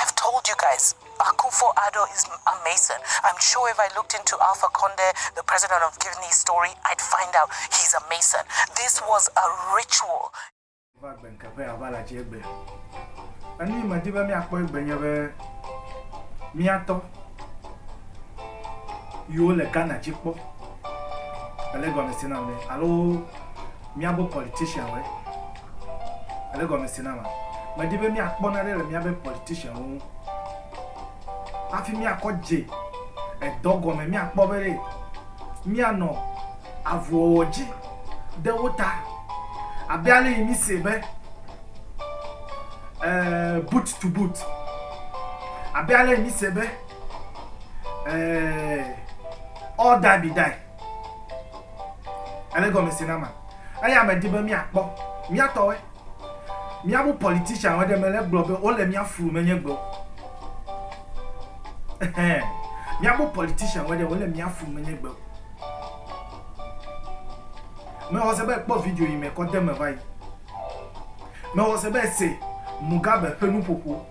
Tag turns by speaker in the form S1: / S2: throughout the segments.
S1: I've told you guys, Akufo Addo is a Mason. I'm sure if I looked into Alpha Conde, the president of Guinea's story, I'd find out he's a Mason. This was a ritual. va gbe ŋkeƒe ava le atsi egbe. Enu yi medi be míakpɔ egbe nye be míatɔ yiwo
S2: le Ghana dzi kpɔ ele gɔmesi nam ne alo míabe politicianwoe. Èɖe gɔme se nama? Medi be míakpɔ nane le míabe politicianwo ŋu hafi míakɔ dze edɔ gɔme, míakpɔ be ɖe míanɔ avuwɔwɔ dzi ɖe wo ta abe ale yi mísee be boot to boot, abe ale yi mísee be all die be die. Ele gɔmese na ma. Eya me di be miakpɔ miatɔwe. Miabu politician we ɖe me le gblɔ be wole mia flu me nye gbewo. Ehem. Miabu politician we ɖe wole mia flu me nye gbewo. Me wɔ se be kpɔ video yi me kɔ de me va yi. Me wɔ se be se Mugabe ƒe nuƒoƒo.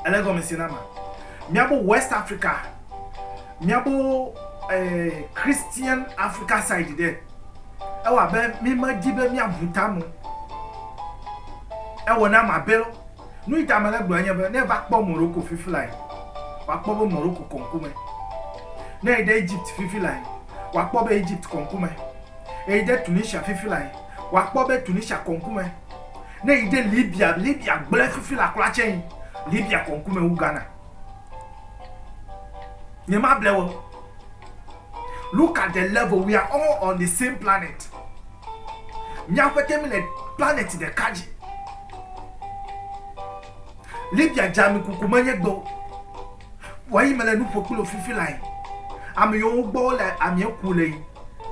S2: Ele gɔmese na ma. Miabu West Africa. Miabo Christian Africa side ɖe, ewɔ abe mi me di be mia bu ta me o. Ewɔ nam abe lɔ. Nuyi ta mele gblɔe nye be, ne eva kpɔ Morocco fifi lae, wa kpɔ be Morocco kɔ ŋku me. Ne eyi ɖe Egypt fifi lae, wa kpɔ be Egypt kɔ ŋku me. Eyi ɖe Tunisia fifi lae, wa kpɔ be Tunisia kɔ ŋku me. Ne eyi ɖe Libya, Libya gblẽ fifi la kura tse yi, Libya kɔ ŋku me wu Ghana. Nyemable wo. Look at the level, we are all on the same planet. Mia ƒete mi le planet ɖeka dzi. Libya dzami kuku menye gbɔ. Wɔyi mele nu ƒo kple fifi la yi. Ame yiwo gbɔ le amie ku le yi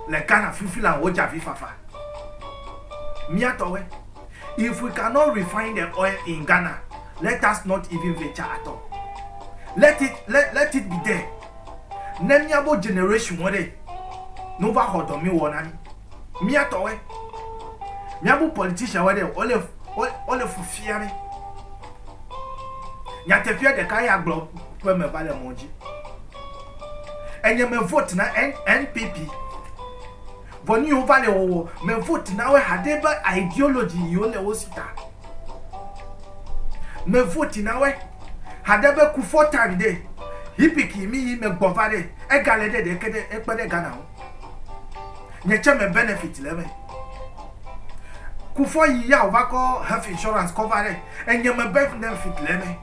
S2: le Ghana fifi la wo dza vi fafa. Mia tɔwe. If we cannot refine the oil in Ghana, let us not even venture at all. Let it, let, let it be there. Ne miabo generation wo ɖe, ne wova xɔ dɔ mi wɔ na mi. Mia tɔwe. Miabo politician wo ɖe, wole, wole fufia ɖe. Nyateƒea ɖeka ya gblɔ ƒe me va le mɔ dzi. Enye me vote na NPP. Vɔ nuyiwo va le wɔwɔ me vote na woe haɖe be ideology yiwo le wosi ta me vote na woe haɖe be kufɔ time ɖe hipic yi mi yi me gbɔ va ɖe ega le ɖe ɖeke ɖe ekpe ɖe Ghana ŋu nye tse me benefit le me kufɔ yi ya ova kɔ health insurance kɔ va ɖe enye me benefit le me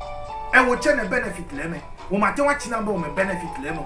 S2: ewo tse ne benefit le me wo ma te wa tsi na be wo me benefit le me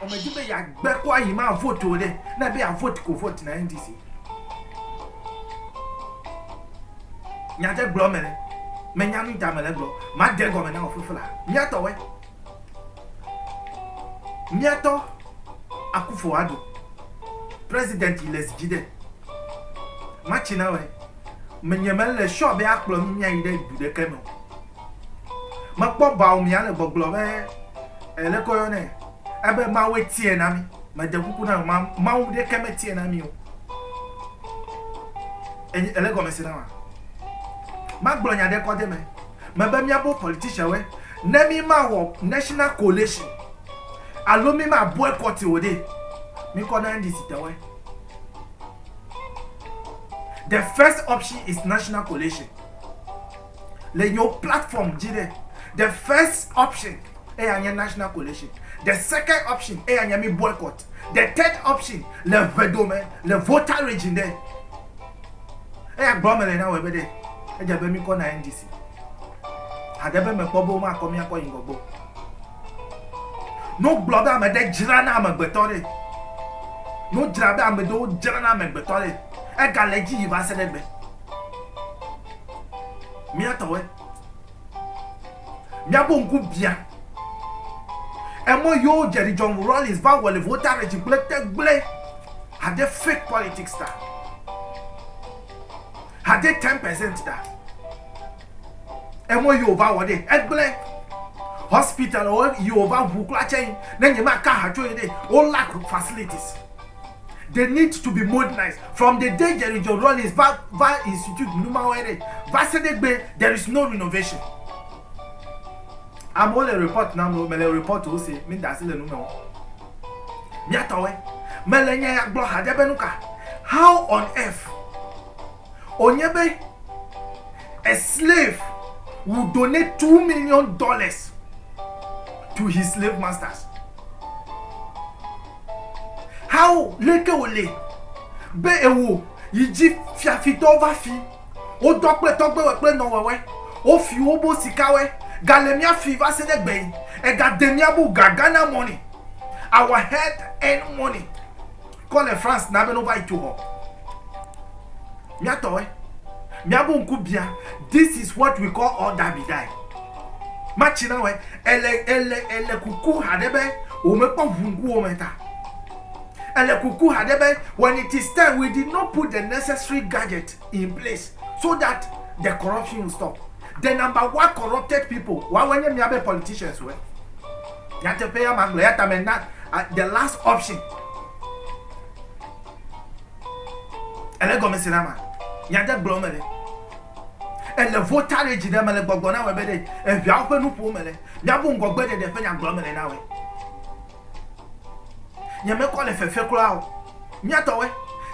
S3: Vɔ medi be yeagbe kɔ ayi ma vote o ɖe. Ne ebe yeavote ko vote na NDC.
S2: Nya ɖe gblɔ mele. Menya nu ta mele gblɔ. Made egɔme na wò fifla. Miatɔ wɛ. Miatɔ Akufo Addo. President yi le zi dzi ɖe. Matsi na wɛ. Menye mele sure be akplɔ nu miayi ɖe du ɖeke me o. Mekpɔ Baomia le gbɔgblɔ be, e, leke woyɔ nɛ? Ebe Mawue tiɛ na mí. Mede kuku na wò, Mawu ɖekɛ metiɛ na mí o. Enye, ele gɔmese na wòa? Magblɔ nya ɖe kɔ de eme. Mebe míabo politicianwoe, ne mímawɔ national coalition alo míma boycott o ɖe, míkɔ na NDC tɔwoe. The first option is national coalition. le yewo platform dzi ɖe, the first option eya nye national coalition, the second option eya nye mi boycott, the third option le ŋe dome le voter raging ɖe. Eya gblɔ mele na wɔ ebe ɖe, edze abe mi kɔ na NDC. Haɖe be mekpɔ be woma kɔ miakɔ yi ŋgɔ gbɔ. No gblɔ be ame ɖe dzra na amegbetɔ ɖe. No dzra be ame ɖewo dzra na amegbetɔ ɖe. Ega le dzi yi va se ɖe gbe. Mía tɔwoe. Míaƒe ŋku biã. Emɔ yewo Jerry John Rawlings va wɔ le Voltarech gblẽ te gblẽ. Hade fake politics ta. Hade 10% ta. Emɔ yewo va wɔ ɖe egblẽ. Hospital yewo va ŋu kura tsɛ. Ne nyemaka ha tso ye ɖe, wo lack facilities. They need to be modernized from the day Jerry John Rawlings va va institute numawoe ɖe va se ɖe egbee there is no renovation. Amewo le report nam o, mele report wo se, mi da asi le nu me o. Mia tɔwoe. Mele nya ya gblɔ haɖe be nuka? How on earth? Wònye be a slave will donate two million dollars to his slave masters. How leke wòle be ewo yi dzi fiafitɔwo va fi wodɔ kple tɔgbewɔe kple nɔwɔwɔe, wofi wobo sikawɔe gale mía fi va se ɖe gbe yi egade mía bu ga Ghana money, our head earned money. kɔ le France na be no va yi tso hɔ. Mia tɔwe. Mia bu nku bia. This is what we call all die be die. Ma tsi na we. Ele ele ele kuku hade be o me kpɔ vungu o me ta. Ele kuku hade be when it is time we did not put the necessary gadget in place so that the corruption will stop. The number one corrupted people. Wa wenye mia be politicians we. nyateƒea magblɔ ya tame na uh, the last option ele gɔme se na ma nyade gblɔ me le ele votarage ɖe me le gbɔgbɔ na wɔ be ɖe eviawo ƒe nuƒo me le miabu ŋgɔgbe ɖeɖe ƒe nyagblɔ me le na wɔ nyemekɔ le fefe kura o miatɔwɛ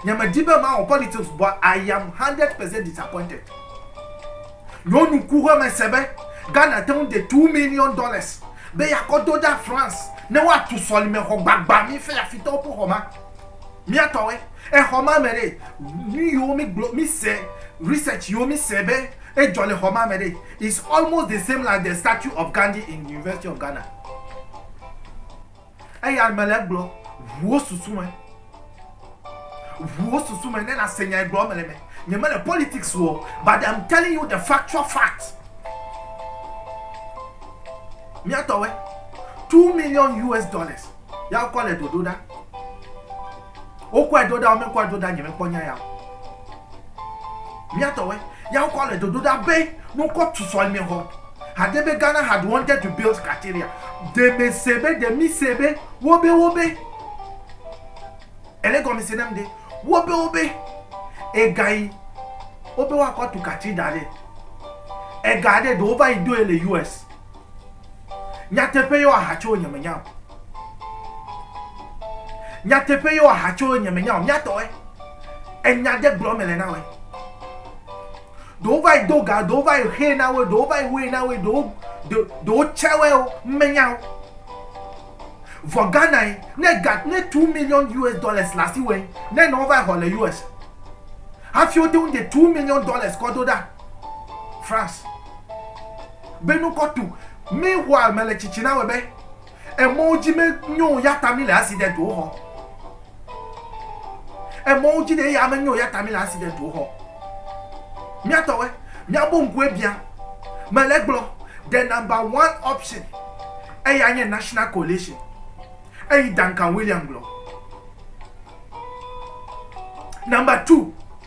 S2: nyemedi be ma wɔ politics but i am hundred percent disappointed. Ɖo nuku be mese be Ghana te ŋu de two million dollars be yeakɔ do ɖa France ne woatu sɔlimexɔ gbagba mi fɛ afitɔwo ƒe xɔ ma. Mía tɔwoe. Exɔ ma me ɖe, nu yiwo mi gblɔ, mi se, research yiwo mi se be edzɔ le xɔ ma me ɖe, is almost the same like the statue of Gandhi in University of Ghana. Eya ame le egblɔ, ʋu wo susu me, ʋu wo susu me ne nase nya yi gblɔ mele me. Nye mele politics o, but I'm telling you the factual fact. Miatɔwe, two million US dollars, ya wokɔ le dodo ɖa. Wokɔe ɖo ɖa, womekɔe ɖo ɖa, nyemekpɔ nya ya o. Míatɔwoe, ya wokɔ le dodo ɖa be ne wokɔ tu sɔlimexɔ, hade be Ghana had wanted to build Cathedral. Ɖe mèse be, ɖe mise be wobe wobe, èle gɔmese nam ɖe, wobe wobe ega yi wobe woakɔ tu Cathedral ɖe, ega ɖe ɖe wova yi ɖoe le US. Nyateƒe yɔ aha tso nye me nya o. Nyateƒe yɔ aha tso nye me nya o. Mía tɔ ɛ. Enya ɖe gblɔ me le na ɔɛ. Ɖewo va yi do ga, ɖewo va yi xee na wo, ɖewo va yi woe na wo, ɖewo ɖewo tsɛ wɛ o. Me nya o. Vɔ Ghana yi ne ga ne two million US dollars le asi wɛ ne nɔ va yi xɔ le US. Hafi wote ŋu de two million dollars kɔ do ɖa France. Be nu kɔ tu mi hua me le tsitsi na wɛ be emɔwo dzi me nyo ya ta mi le accident wo xɔ. Emɔwo dzi ɖe ya me nyo ya ta mi le accident wo xɔ. Mia tɔ wɛ, mia bo nku ebia. Me le gblɔ the number one option eya nye national coalition. Eyi Duncan William gblɔ. Number two.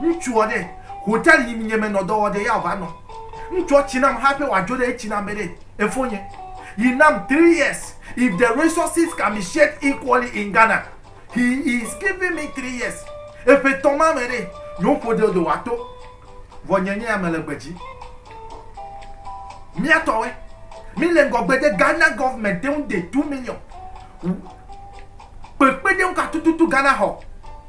S2: Ŋutsua ɖe, hotel yim nye me nɔ dɔ wɔ ɖe ya va nɔ. Ŋutsua tsi nam hape wa dzo ɖe etsi nam be ɖe efo nye. He nam three years. If the resources can be shared equally in Ghana, he is giving me three years. Eƒe tɔn ma me ɖe, yo ƒo ɖe do wa to. Vɔ nye nye ya me le gbedzi. Mia tɔwe. Mi le ŋgɔ gbe de Ghana government te ŋu de two million. Kpekpe de ŋu ka tututu Ghana hɔ.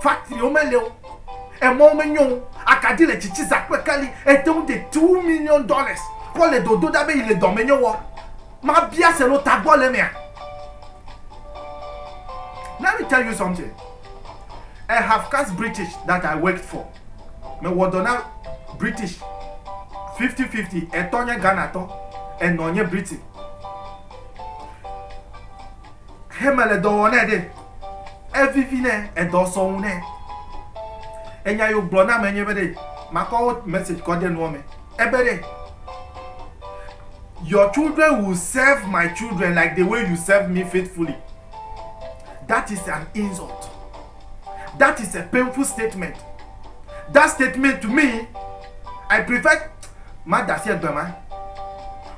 S2: Faktriwo meli o, emɔwo menyo o, akaɖi le tsitsi za kple keli, ete ŋu de two million dollars kɔ le dodo ɖa be yi le dɔmenyo wɔ. Mabia se lo tagbɔ le emea? Let me tell you something, a half caste British that I worked for, me wɔ dɔ na British fifty fifty, etɔ nye Ghana tɔ, enɔ nye Britain. Heme le dɔ wɔ nɛ ɖe, evivi nɛ, edɔ sɔ ŋu nɛ. Enya yo gblɔ na me nye be ɖe, makɔ wo message kɔ de nua me. Ebe ɖe, your children will serve my children like the way you serve me faithfully. That is an insult. That is a painful statement. That statement to me, I prefer ma da si egbe ma.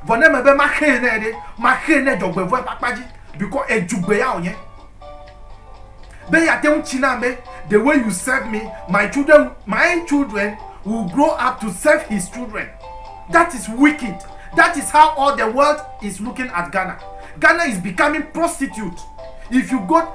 S2: Vɔ ne mebe ma xe ne ɖe, ma xe ne dzɔgbevɔe ƒe akpa dzi because edzugbe ya wònye. Be yate ŋu tsi na be the way you serve me, my children, my children will grow up to serve his children. That is wicked. That is how all the world is looking at Ghana. Ghana is becoming prostitute. If you go,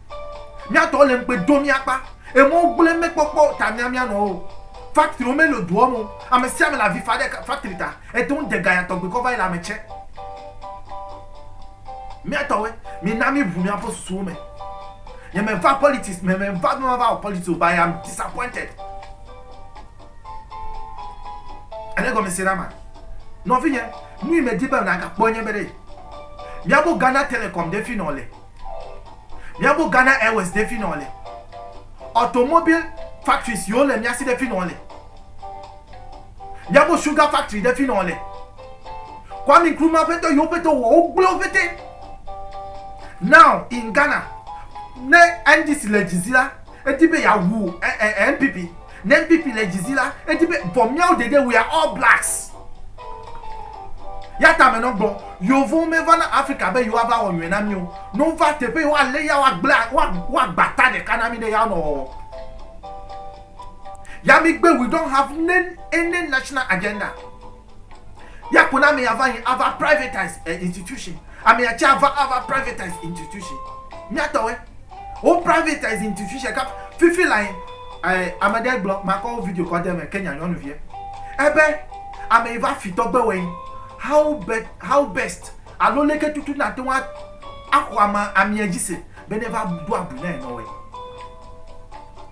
S2: Mía tɔwo le ŋugbe do mía kpa. Emɔ gblẽ mekpɔkpɔ ta mía mía nɔwo. Factory me le doɔ me o. Ame sia ame le avi fa ɖe factory ta. Ete ŋu de gaya tɔgbi kɔ va yi le ame tsɛ. Mía tɔwoe, mi na mi ʋu mía ƒe susuwo me. Nye me va politics me, me va be ma va wɔ politics o but I am disappointed. Ele gɔme se na ma? Nɔvi nye, nu yi me di be na ga kpɔ nye be ɖe, mía bo Ghana Telecom ɖe fi nɔ le. Mía gbɔ Ghana Airways ɖe fino le. Automobile factories yiwo le mía si ɖe fino le. Mía gbɔ sugar factory ɖe fino le. Kwame Nkrumah ƒe dɔ yiwo ƒe dɔ wɔ wogblẽ wo ƒete. Now in Ghana ne NDC le dzi zi la edi be yeawu NPP. Ne NPP le dzi zi la, edi be vɔ míawo ɖeɖe we are all blacks. Ya ta amenɔ gbɔ, Yovowo meva na Afrika be yewoa va wɔ nyɔe na mí o. Ne wova teƒe yi woa lé ya woa gblẽ woa woa gba ta ɖeka na mí ɖe ya nɔ wɔwɔ. Ya mí gbe we don't have ne any national agenda. Yako na amea va yi ava privatise eh, institution. Amea tse ava ava privatise institution. Míatɔwɔe. Eh? Wo privatise institution kap fifi la yi. Eh, ame ɖe gblɔ makɔ wo video kɔ de me Kenya nyɔnuvie. Ebe eh ame yi va fitɔ gbe wɔ How be how best alo leke tutu na te wa axɔ ame amea dzi se be ne va do abu na enɔwɔe.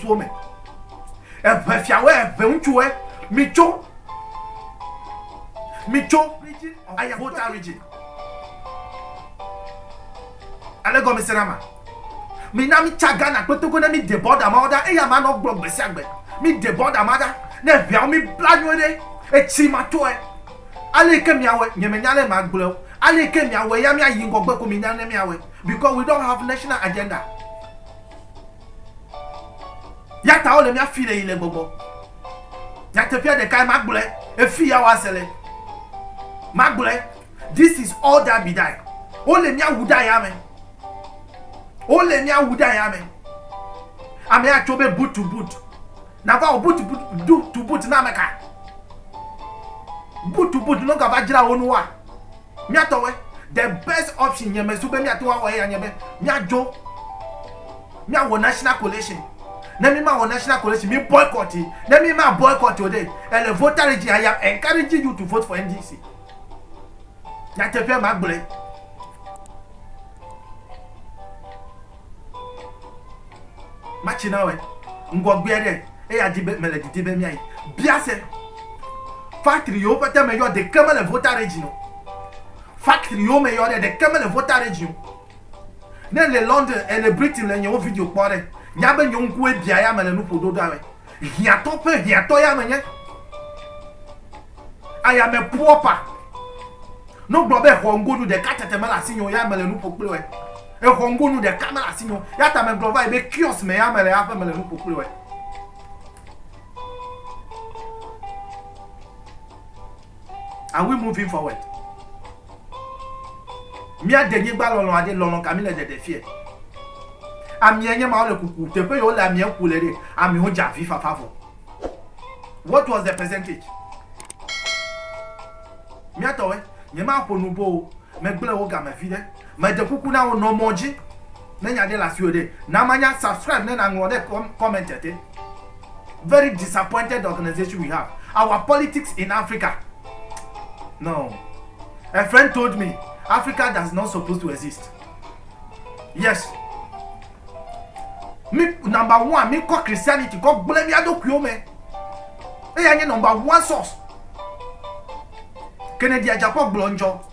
S3: suwo me eʋe fiawo eʋe ŋutsuwo mi tso mi
S2: tso ayahota region ale gɔme se na ma mi na mi tsa ghana kpetoko ne mi de bɔda ma ɔda eya ma nɔ gblɔ gbesi agbe mi de bɔda ma da ne ʋeawo mi bla nyuie ɖe etsi ma tɔe ale ke miawe nye me nya le ma gblɔ ale ke miawe ya mia yi ŋgɔgbe ko mi nya ne miawe because we don't have national agenda Ya ta wole mía fi le yi le gbɔgbɔ. Nyateƒea ɖekae ma gblɔe efi ya wa se le. Ma gblɔe this is all that be die. Wole mía wu ɖa ya me. Wole mía wu ɖa ya me. Ame ya tso be boot to boot. Na va o boot to boot na meka. Boot to boot no ka va jira wo nu wa. Mía tɔwoe. The best option nye me zu be mía te ŋu awɔ eya nye be mía dzo mía wɔ national collation. Ne mí ma wɔ national collation, mí boycott yi. Ne mí ma boycott o ɖe, ele voter regime I am encouraging you to vote for NDC. Nyateƒea ma gblɔe. Matsi na wɔe ŋgɔgbea ɖe eya di be mele didi be miayi bia se factory yiwo pete me yɔ ɖeke mele vota region o factory yiwo me yɔ ɖe ɖeke mele vota region ne le London ele Britain le nyewo video kpɔ ɖe nya be nyewo ŋkuwe bia ya mele nuƒo ɖoɖa wɔe Hiãtɔ ƒe hiãtɔ ya menye. Ayame proper. Ne wogblɔ be xɔŋgonu ɖeka tete mele asinye o, ya mele nu ƒo kple wòe. Exɔŋgonu ɖeka mele asinye o. Ya ta megblɔ va yi be kiosk me ya mele haƒe mele nu ƒo kple wòe. Are we moving forward? Mía de nyigba lɔlɔa ɖe, lɔlɔ ka mi le ɖeɖe fiɛ? Amia nye mawo le kuku, teƒe yi wo le amia ku le ɖe, amiwo dze avi fafa vɔ. What was the percentage? Mía tɔwɛ, nye ma ƒo nu boo, me gble wo game viɖe. Me de kuku na wo, nɔ mɔ dzi ne nya ɖe le asiwò ɖe, na ma nya, subscribe ne na ŋlɔ ɖe comment te. Very disappointed organization we have. Our politics in Africa. No. A friend told me Africa does not supposed to exist. Yes. Mi number one, mi kɔ Christianity kɔ gblẽ mía ɖokuiwo me. Eya nye number one source. Kennedy Ajakɔ gblɔ ŋdzɔ.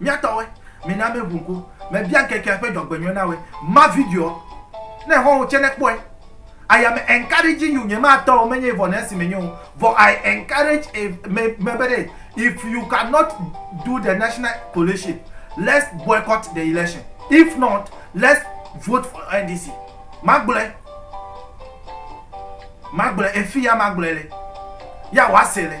S2: Mía tɔwoe, mina míeʋu ŋku. Mebia ŋkekea ƒe dzɔgbenyɔe na woe. Ma videoa. Ne xɔ̃wò tsɛ nekpɔe. I am encouraging you, nyematɔ wò menye vɔ ne esi menye o, vɔ I encourage a me me be ɖe if you cannot do the national collation, let's boycott the election, if not let's vote for NDC. Magblɔe. Magblɔe. Efi ya magblɔe le. Ya wɔ ase le.